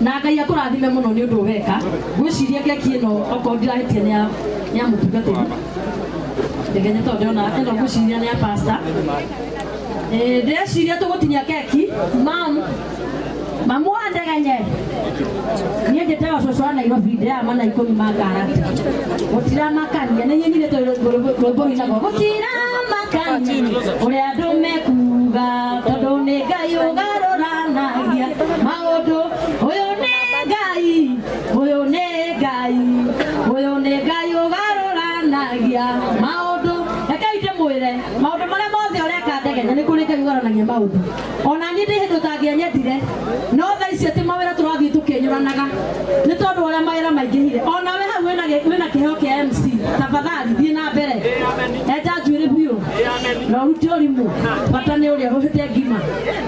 na ngai akũrathime mũno nĩ ũndũ weka ngwĩciria keki ĩno okorwo ndirahĩtia nĩ ya- nĩ ya mũtungatĩri ndegenye tondũ ndĩrona ĩno ngwĩciria nĩ ya pasta Eh, ndĩreciria tũgũtinia keki mam mamu wa ndegenye niä njä tewa cåcå wa nairobi ndäama na ikå mi makarati gå tiramakania nä nyinä tå rwä mbå inagwo gå tiramakania å rä a andå mekuga tondå nä ngai å garå Nagia maũndũ ũyũ nĩ ngai ũyũ nĩ ngai ũyũ nĩ ngai ũgarũranagia maũndũ rekei ndĩmwĩre maũndũ marĩa mothe ũreka ndegenya nĩ kũrĩ ngai ũgarũranagia maũndũ ona niĩ ndĩ hĩndĩ ũtangĩenyendire no tha ici atĩ mawĩra tũrathiĩ tũkĩnyũranaga nĩ tondũ ũrĩa mawĩra maingĩhire ona we hau wĩna gĩ- wĩna kĩheo kĩa mc tafadhali thiĩ na mbere enja njuĩrĩ biũ na ũrute ũrimũ bata nĩ ũrĩa ũhĩte ngima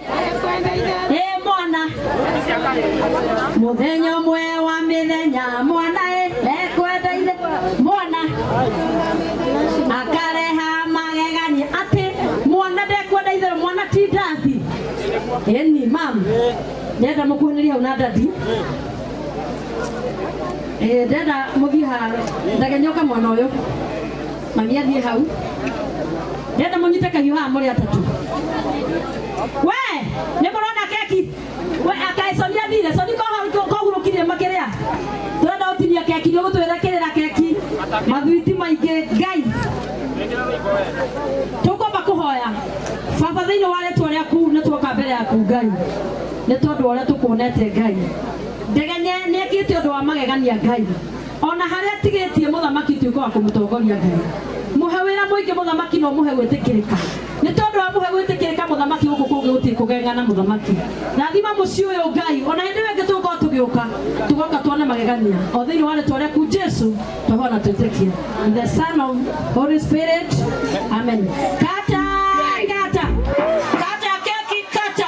ĩ mwana mũthenya ũmwe wa mĩthenya mwana ĩ ekwendeire mwana akareha magegania atĩ mwana ndekwenda itherũ mwana ti ndathi ĩni mam ndenda mũkuhanĩria hau na ndadi Eh, ndenda mũthiĩ ha ndagenyoka mwana ũyũ mami athiĩ hau ndenda mũnyite kahiũ haha mũrĩ atatũ we nĩ mũrona keki we akae coni athire coni kohurũkirie makĩrĩa tũrenda gũtinia keki nĩ ũgũtwĩra kĩrĩra keki mathwiti maingĩ ngai tũkwamba kũhoya baba thĩinĩ wa rĩtwa rĩaku nĩ tuoka mbere yaku ngai nĩ tondũ wa ũrĩa tũkuonete ngai ndegenye nĩ ekĩte ũndũ wa magegania ngai ona harĩa atigĩtie mũthamaki tuĩka wa kũmũtongoria ngai mũhe wĩra mũingĩ mũthamaki na ũmũhe gwĩtĩkĩrĩka nĩ tondũ wa mũhe gwĩtĩkĩrĩka mũthamaki gũkũ kũngĩ gũtirĩ kũgegana mũthamaki rathima mũciĩ ũyũ ngai ona hĩndĩ ĩyo ĩngĩ tũgũkorwo tũgĩũka tũgoka tuone magegania o thĩinĩ wa rĩtwa rĩaku jesu tũhoa na twĩtĩkia In the son of holy spirit amen kata ngata kata keki kata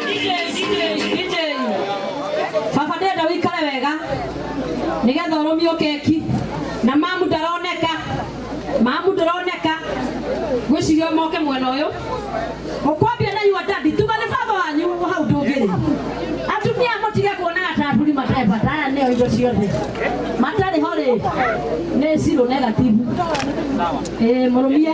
baba ndenda wikare wega nigetha urumio keki na mamu ndaroneka mamu ndaroneka gwicirio moke mwena uyu ukwambia na yua dadi tuga ni baba wanyu hau ndungiri atumia mutige kuonaga ta aturi matebata aya nio indo ciothe matari ho ri ni ciro negativu ĩ murumie